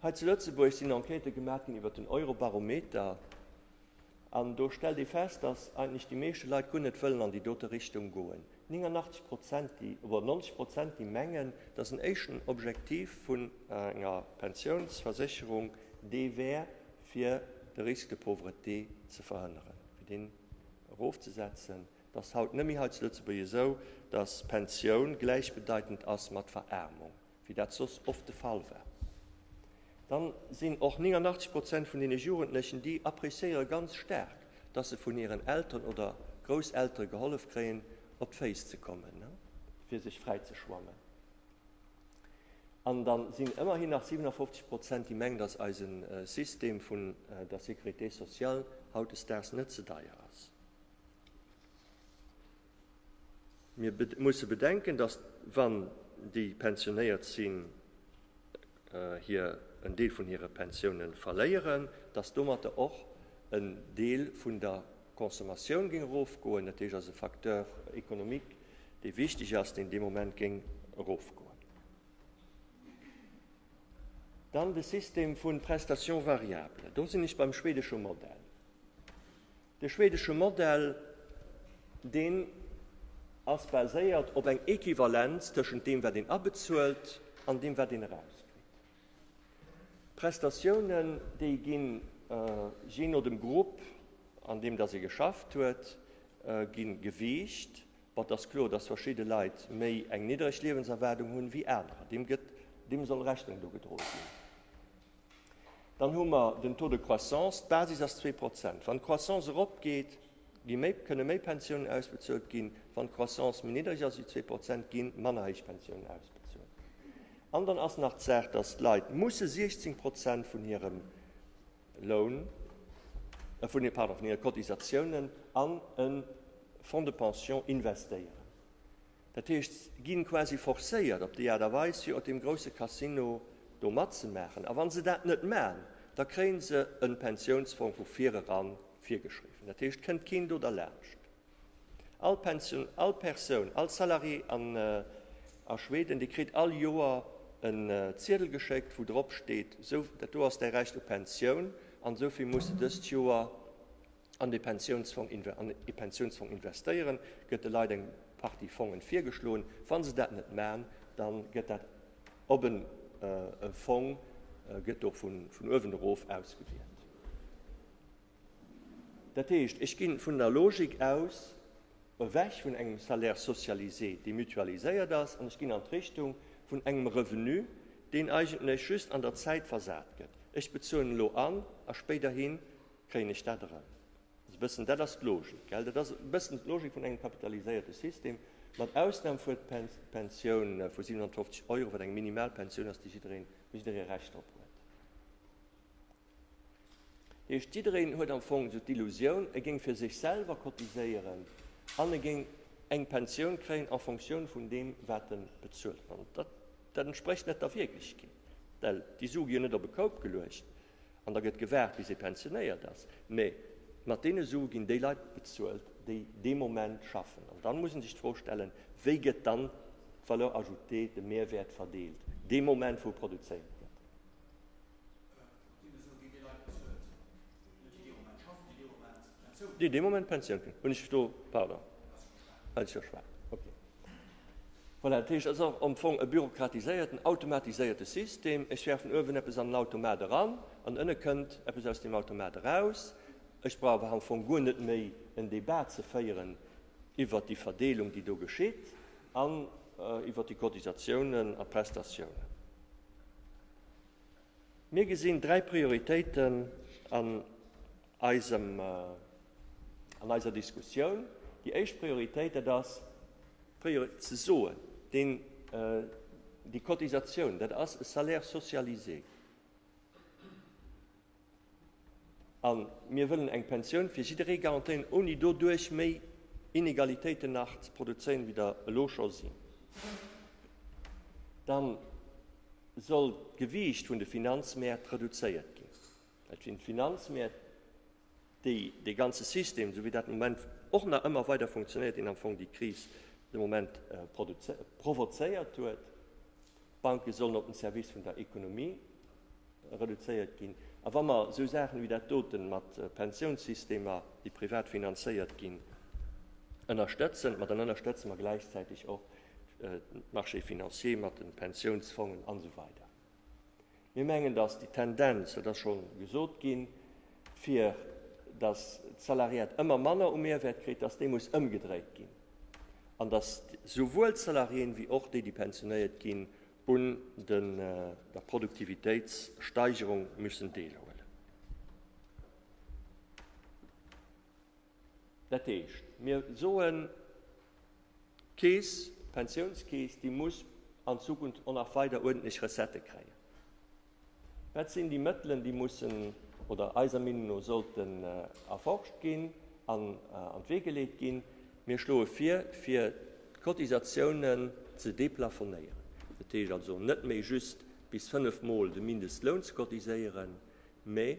Hei zu Lëtzebuerg sinn Enquêtë gemaach ginn iwwer den Eurobarometer. An do stellt ee fest, datt eigentlech déi meeschte Leit guer net wëllen an déi dote Richtung goen. 89 Prozent, déi, oder 90 Prozent, déi mengen, datt en éischten Objektiv vun enger Pensiounsversécherung dee wär, fir de Risque de pauvreté ze verhënneren, fir deen erofzesetzen. 't ass haut net méi hei zu Lëtzebuerg esou, datt Pensioun gläichbedeitend ass mat Veraarmung, wéi dat soss oft de Fall war. Dann sinn och 89 Prozent vun deene Jugendlechen, déi appréciéiere ganz staark, datt se vun hiren Elteren oder Grousseltere gehollef kréien, op d'Féiss ze kommen, fir sech fräi ze schwammen. An da sinn ëmmerhin nach 57 Prozent, déi mengen, datt eise System vun der Sécurité sociale hautdesdaags net ze deier ass. Mir musse bedenken, datt, wann déi pensionéiert sinn, hir en Deel vun hire Pensioune verléieren, datt domatter och en Deel vun der Consommatioun géing erofgoen, dat heescht ass e Facteur économique, dee wichteg ass, deen dee Moment géing erofgoen. Dann de System vu Prestations variables. Do sinn ech beim schwedesche Modell. De schwedesche Modell, deen ass baséiert op eng Equivalenz tëschent deem, wat een abezuelt an deem, wat een erauskritt. Prestatiounen, déi ginn je no dem Grupp, an deem dass ee geschafft huet, gi gewiicht. Bon, et ass kloer, dass verschidde Leit méi eng niddreg Liewenserwaardung hunn wéi anerer. Deem gëtt, deem soll Rechnung dru gedroe ginn. Dann hu mer den Taux de croissance, d'Basis ass zwee Prozent. Wann d'Croissance eropgeet, gi méi, kënne méi Pensiounen ausbezuelt ginn, wann d'Croissance méi niddreg ass ewéi zwee Prozent, gi manner héich Pensiounen ausbezuelt. An dann ass nach d'Saach, datt d'Leit musse 16 Prozent vun hirem Loun, pardon, vun hire Cotisatiounen an e Fonds de pension investéieren. Dat heescht, se ginn quasi forcéiert op déi Aart a Weis fir op deem grousse Casino do matzemaachen. A wann se dat net maachen, da kréien se en Pensiounsfong vu vireran virgeschriwwen. Dat heescht, et kënnt keen do derlaanscht. All Pensioun, all Persoun, all Salarié an a Schweden, dee kritt all Joer en Ziedel geschéckt wou drop steet, esou dat do ass däi Recht op Pensioun an esou vill muss de dëst Joer, an de Pensiounsfong investéieren, gëtt de Leit eng Partie Fongen virgeschloen. Wann se dat net man, dann gëtt dat op en Fong, gëtt do vun uewen erof ausgewielt. Dat heescht, ech ginn vun der Logik aus ewech vun engem Salaire socialisé, dee mutualiséiert ass, an ech ginn an d'Richtung vun engem Revenu, deen eigentlech just an der Zäit versat gëtt. Ech bezuelen elo an a spéiderhi Kréien ech dat eran? Dat ass e bëssen, dat ass d'Logik, gell? Dat ass e bëssen d'Logik vun engem kapitaliséierte System, mat Ausnam vu d'Pensioun vu 750 Euro, wat eng Minimalpensioun ass, déi jiddereen, wou jidderee Recht drop huet. Dat heescht, jiddereen huet am Fong esou d'Illusioun, e géing fir sech selwer cotiséieren an e géing eng Pensioun kréien en fonctioun vun deem, wat e bezuelt. Dat entsprécht net der Wierklechkeet, well déi Su gi jo net op e Koup geluecht. An da gëtt gewaart, bis ee pensionéiert ass. Mä mat deene Sue ginn déi Leit bezuelt, déi dee Moment schaffen. An dann muss ee sech d'Fro stellen, Wéi gëtt dann d'Valeur ajoutée, de Mehrwäert, verdeelt dee Moment, wou produzéiert gëtt? déi dee Moment Pensioun hunn, hunn ech do, pardon, well ech jo schwätzen, okay. Voilà, dat heescht, et ass am Fong e bürokratiséierten, automatiséierte System. Ech wäerfen uewen eppes an den Automat eran an ënne kënnt eppes aus deem Automat eraus. Ech brauch awer am Fong guer net méi en Débat ze féieren iwwert déi Verdeelung, déi do geschitt an iwwert déi Cotisatiounen a Prestatiounen. Mir gesinn dräi Prioritéiten an eisem, an eiser Diskussioun, déi éischt Prioritéit, dat ass, fir ze soen, deen, déi Cotisatioun, dat ass e Salaire socialisé. A mir wëllen eng Pensioun fir jidderee garantéieren, ouni doduerch méi Inegalitéiten nach ze produzéieren, wéi der elo scho sinn. Dann soll d'Gewiicht vun de Finanzmäert reduzéiert ginn. Et sinn d'Finanzmäert, déi dee ganze System, esou wéi dat de Moment och nach ëmmer weider funktionéiert, deen am Fong déi Kris de Moment provozéiert huet. D'Banke sollen op den Service vun der Ekonomie reduzéiert ginn. A wa mer esou Saachen ewéi dat doten mat Pensiounssystemer, déi privat finanzéiert ginn, ënnerstëtzen, ma dann ënnerstëtze mer gläichzäiteg och d'Marchés financiers mat de Pensiounsfongen an esou weider. Mir mengen, dass déi Tendenz, dat ass scho gesot ginn, fir dass d'Salariat ëmmer manner u Mehrwert kritt, dass déi muss ëmgedréit ginn an dass souwuel d'Salariéen wéi och déi, déi pensionéiert ginn, un der Produktivitéitssteigerung müssen deelhuelen. Dat heescht, mir soen, d'Keess, d'Pensiounskeess, déi muss an Zukunft och nach weider uerdentlech Recettë kréien. Dat sinn déi Mëttelen, déi mussen oder eiser Meenung no sollten erforscht ginn an an d'Wee geleet ginn. Mir schloe vir, fir d'Cotisatiounen ze deplafonnéieren. Dat heescht also net méi just bis fënnef Mol de Mindestloun ze cotiséieren, mä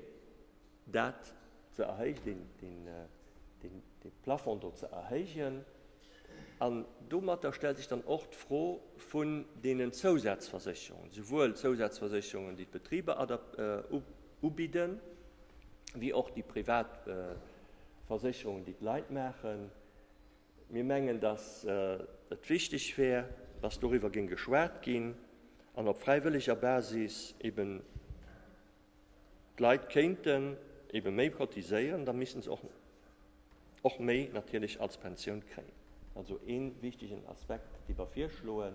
dat ze erhéijen, dee Plafond do ze erhéijen. An domatter stellt sech dann och d'Fro vun deenen Zousazversécherungen, souwuel d'Zousazversécherungen, déi d'Betriber ubidden, wéi och déi privat Versécherungen, déi d'Leit maachen. Mir mengen, dass et wichteg wär, dass doriwwer géing geschwat ginn an op fräiwëlleger Basis eeben D'Leit kéinten ebe méi cotiséieren, da missten se och och méi natierlech als Pensioun kréien. Also ee wichtegen Aspekt, dee mer virschloen.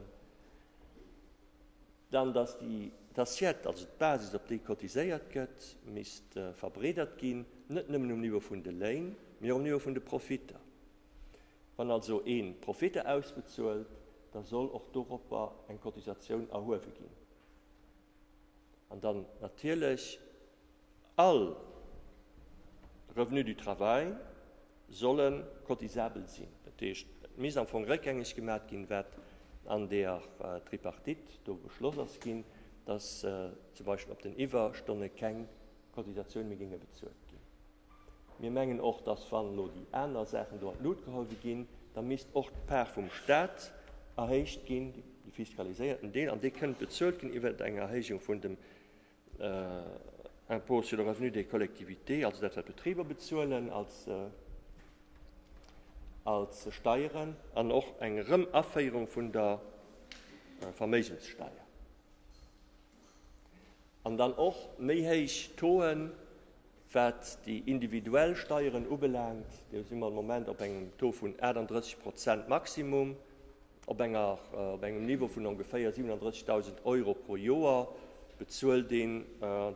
Dann, dass déi d'Assiette, also d'Basis, op déi cotiséiert gëtt, misst verbreedert ginn, net nëmmen um Niveau vun de Léin, mee och um Niveau vun de Profitter. Wann also ee Profitter ausbezuelt, da soll och doropper eng Cotisatioun erhuewe ginn. An dann natierlech, all Revenu du travail solle cotisabel sinn. Dat heescht, et misst am Fong réckgängeg gemat ginn, wat an der Tripartite do beschloss ass ginn, dass zum Beispill op den Iwwerstonne keng Cotisatioun méi géinge bezuelt ginn. Mir mengen och, dass, wann elo déi aner Saachen do an d'Lut geholl si ginn, da misst och d'Part vum Stat erhéicht ginn, de fiskaliséierten Deel, an dee kënnt bezuelt ginn iwwert eng Erhéijung vun dem Impôt sur le revenu des collectivités, also dat, wat d'Betriber bezuelen als Steieren, an och eng Erëm-Aféierung vun der Verméigenssteier. an dann och méi héich Tauxen, wat déi individuell Steieren ubelaangt. Do si mer de Moment op engem Taux vun 38 Prozent Maximum, op engem Niveau vun ongeféier 37.000 Euro pro Joer bezuelt een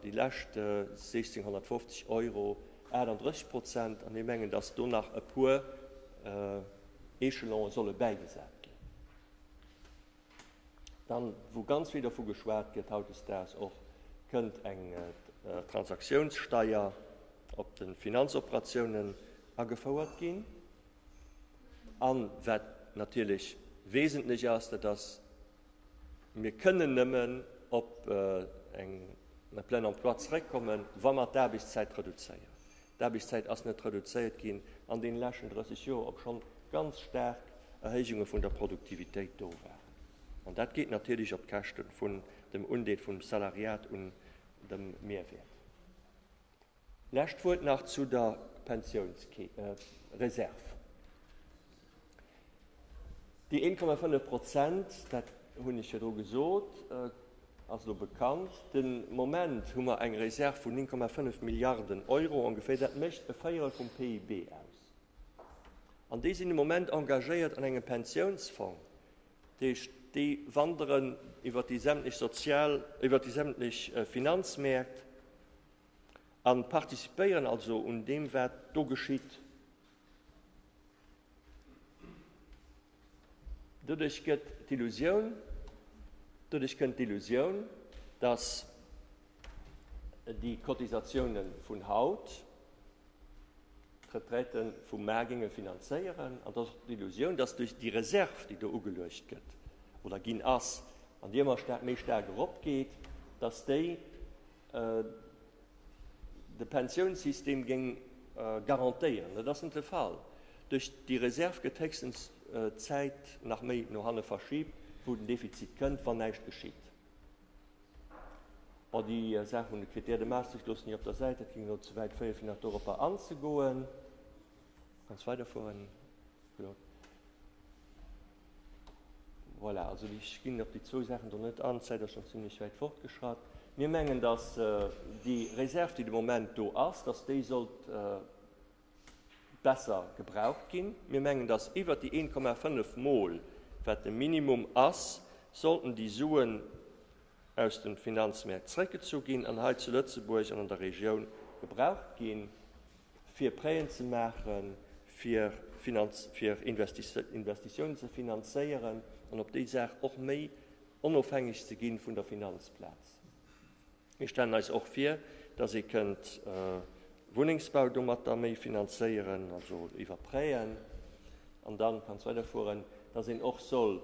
déi lescht 1.650 Euro, 38 Prozent. An ech mengen, datt do nach e puer Echelonen solle bäigesat ginn. Dann, wou ganz vill dovu geschwat gëtt hautdesdaags och, kënnt eng Transaktiounssteier op de Finanzoperatiounen agefouert ginn. A wat natierlech wesentlech ass, dat ass, mir kënnen nëmmen op eng Plein emploi zeréckkommen, wa mer d'Aarbechtszäit reduzéieren. D'Aarbechtszäit ass net reduzéiert ginn an deene leschten 30 Joer, obschonn ganz staark Erhéijunge vun der Produktivitéit do waren. An dat geet natierlech op d'Käschte vun dem Undeel vum Salariat un dem Mehrwäert. Lescht Wuert nach zu der Pensionsreserv. Déi 1,5 Prozent, dat hunn ech virdru gesot, ass elo bekannt. De Moment hu mer eng Reserv vun 9,5 Milliarden Euro ongeféier. Dat mécht e Véierel vum PIB aus. An déi sinn de Moment engagéiert an engem Pensiounsfong. Dat heescht, déi wanderen iwwer déi sämtlech sozial, iwwer déi sämtlech Finanzmäert an participéieren also un deem, wat do geschitt. Doduerch gëtt d'Illusioun, doduerch kënnt d'Illusioun, dass déi Cotisatiounen vun haut d'Retraiten vu mar géinge finanzéieren, an dass och d'Illusioun, dass duerch déi Reserv, déi do ugeluecht gëtt oder ginn ass, an déi ëmmer staark, méi staark eropgeet, dass déi de Pensiounssystem géing garantéieren. Dat ass net de Fall. Duerch déi Reserv gëtt héchstens d'Zäit nach méi no hanne verschiibt, wou den Defizit kënnt, wann näischt geschitt. Bon, déi Saach vun de Critères de Maastricht loossen ech op der Säit, dat géing elo ze wäit féieren, fir nach doropper anzegoen. Kannst weiderfueren. Voilà, also ech ginn op déi zwou Saachen do net an, d'Zäit ass schonn zimlech wäit fortgeschratt. Mir mengen, datt déi Reserv, déi de Moment do ass, datt déi sollt besser gebraucht ginn. Mir mengen, datt iwwert déi 1,5 Mol, wat de Minimum ass, sollten déi Suen, aus de Finanzmäert zeréckgezu ginn an hei zu Lëtzebuerg an an der Regioun gebraucht gi fir Prêten ze maachen, fir fir Investitiounen ze finanzéieren an op déi Saach och méi onofhängeg ze gi vun der Finanzplaz. Mir stellen eis och vir, datt ee kënnt Wunnengsbau domatter méi finanzéieren, also iwwer Prêten, an da kann ech weiderfueren, datt een och soll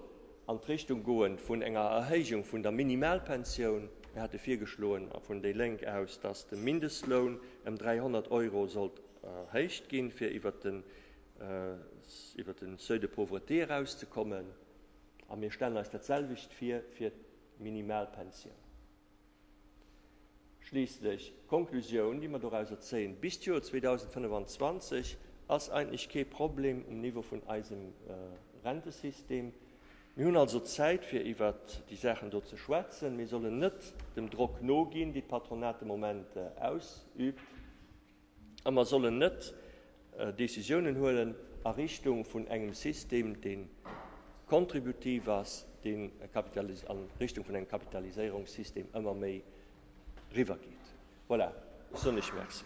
an d'Richtung goen vun enger Erhéijung vun der Minimalpensioun. Mir hate virgeschloen vun déi Lénk aus, dass de Mindestloun ëm 300 Euro sollt erhéicht ginn, fir iwwert den iwwert de Seuil de pauvreté erauszekommen. A mir stellen eis datselwecht vir fir d'Minimalpensioun. Schliisslech, d'Konklusioun, déi mer dorauser zéien, Bis d'Joer 2025 ass eigentlech kee Problem um Niveau vun eisem Rentesystem. Mir hunn also Zäit, fir iwwer déi Saachen do ze schwätzen. Mir sollen net dem Drock noginn, dee d'Patronat de Moment ausüübt. A mer sollen net Decisiounen huelen a Richtung vun engem System, dee kontributiv ass, deen a Richtung vun engem Kapitaliséierungssystem ëmmer méi riwwer geet. Voilà, ech soen Iech Merci.